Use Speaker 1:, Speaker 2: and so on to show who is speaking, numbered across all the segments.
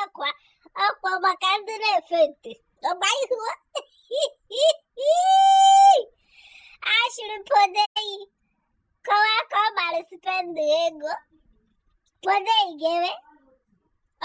Speaker 1: ọkwa ọkwa maka ndị na-efenti ọgba ihu a shịrị Pondei kọwa ka ọ gbara spend ego Pondei ga-eme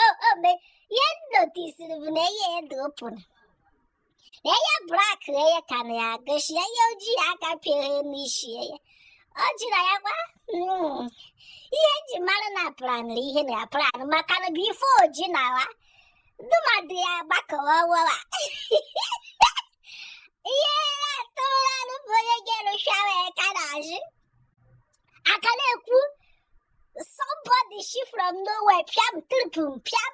Speaker 1: o o me ihe m notisiri bụ na ihe ya dị opụrụ Anya black anya ka na ya gosi anya ojii aka pịara n'isi ya. Ọ jụrụ ya gwa "Mm, ihe eji mara na planụrụ ihe na ya planụ maka na before o ji na wa ndị mmadụ ya gbakọwa wawa. Ihe ya atụrụla anụ bụ onye ga-erụcha wee ka na-ajụ. Aka na-ekwu somebody shi from nowhere pịam tripụ m pịam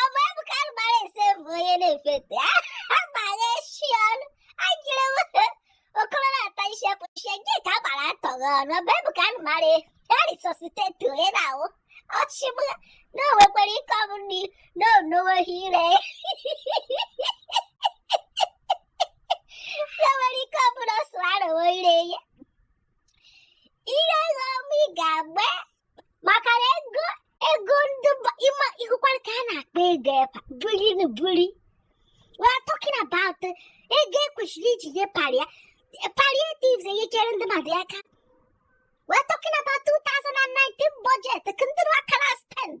Speaker 1: ọ bụ ebuka gbara ese bụ onye na-efenti agbara shi ọnụ ajiri okoro na-ata isi apụchie gị ka agbara atọghị ọnụ ọ bụ ebuka mara ya resuscitate onye na-anwụ ọchịgbu na o nwekwara ike ọ bụ na o nweghị ire na o nwere ike ọ bụ na ọ swallowo ire ya ire gị ọmụ ị ga-agba maka na ego ego ndị ịma ịhụkwara ka a na-akpa ego epa buri na buri we are talking about ego ekwesịrị iji nye pallia palliatives enyechere ndị mmadụ aka we are talking about 2019 budget ka ndị akara spend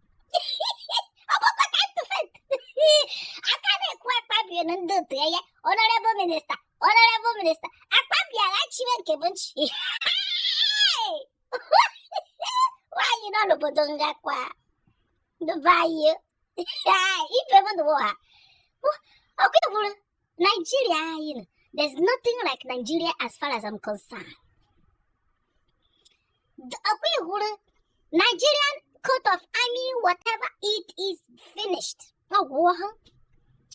Speaker 1: a ka na-ekwu Akpabio na ndị otu ya honourable minister honourable minister Akpabio agha chiwe nke bụ nchi nwaanyị nọ n'obodo ngakwa ndụbayo ife m ndụwa ha ọkwa ịhụrụ Nigeria anyị nọ there's nothing like Nigeria as far as I'm concerned ọkwa ịhụrụ Nigerian coat of army whatever it is finished ọ gwụọ ha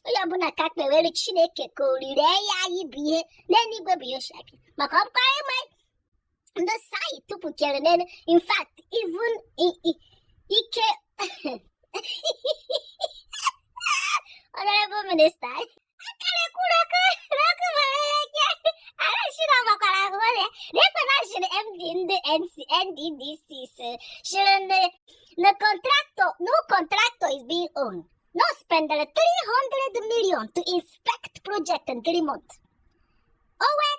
Speaker 1: onye ọbụla ka kpewere chineke ka ọ rịrị ya anyị bụ ihe n'eluigwe bụ ya maka ọkwa ịma the site to put your name. In fact, even i i i can. Honorable Minister, akara kwuru MD ndị NC NDDC sịrị ndị the contractor no contractor is being owned. No spend 300 million to inspect project in three months. Oh, wait.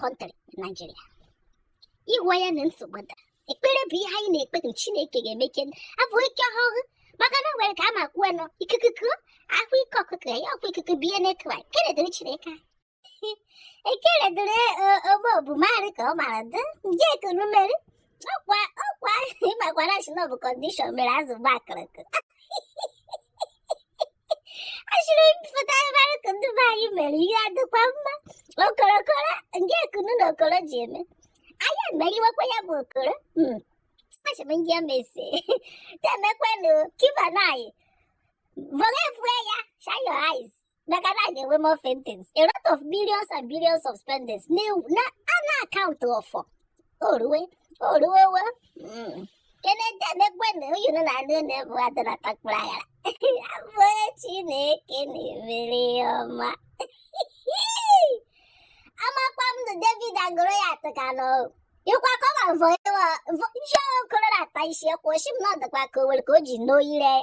Speaker 1: country Nigeria ịhụ anya na nsogbu dara ekpere bụ ihe anyị na-ekpe na chineke ga-eme ka abụ ike ọhụrụ maka na o nwere ka a ma kwuo na ikuku kuo a hụ ike ọkụkọ ya ọkwa ikuku biye n'ekwa ekele dịrị chineke anyị ekele dịrị ogbo bụ maarị ka ọ mara dị nje ekuru mmeri ọkwa ọkwa ịmakwara shi na ọ bụ condition mere azụ gba akụrụkụ asịrị m pụta mara ka ndị be anyị mere ihe adịkwa mma okorokoro ndị ekunu na okoro ji eme anyị emeriwekwa ya bụ okoro hmm. asị m ndị emesi temekwenụ ka ibe anyị vọrefue anya shine your eyes maka na a ga-enwe more faintings a lot of millions and billions of spendings na a na account for oruwe oruwe owe hmm. keneti emekwe na oyunu na anụ na-ebu adị na takpụrụ aghara abụ onye chineke na-emere ya ọma amakwa m na david agụrụ ya atụ ka na ọgwụ ịkwa ka ọ ma vọ ịwa vọ ihe okoro na-ata isi ekwu oshi m na ọdịkwa ka o nwere ka o ji n'oyire ya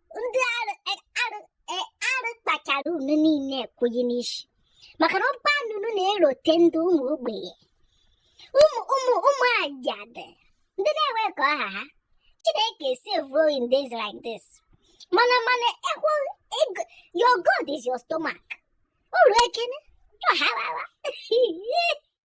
Speaker 1: ndị arụ e, arụ e, arụ kpachara unu niile ekwughị n'isi maka na ọkpa na unu na-erote ndị ụmụ ogbenye ụmụ ụmụ ụmụ ajadu ndị na-enwe ka ọ ha ha chineke save in days like this mana mana eh your god is your stomach uru ekene ọharawa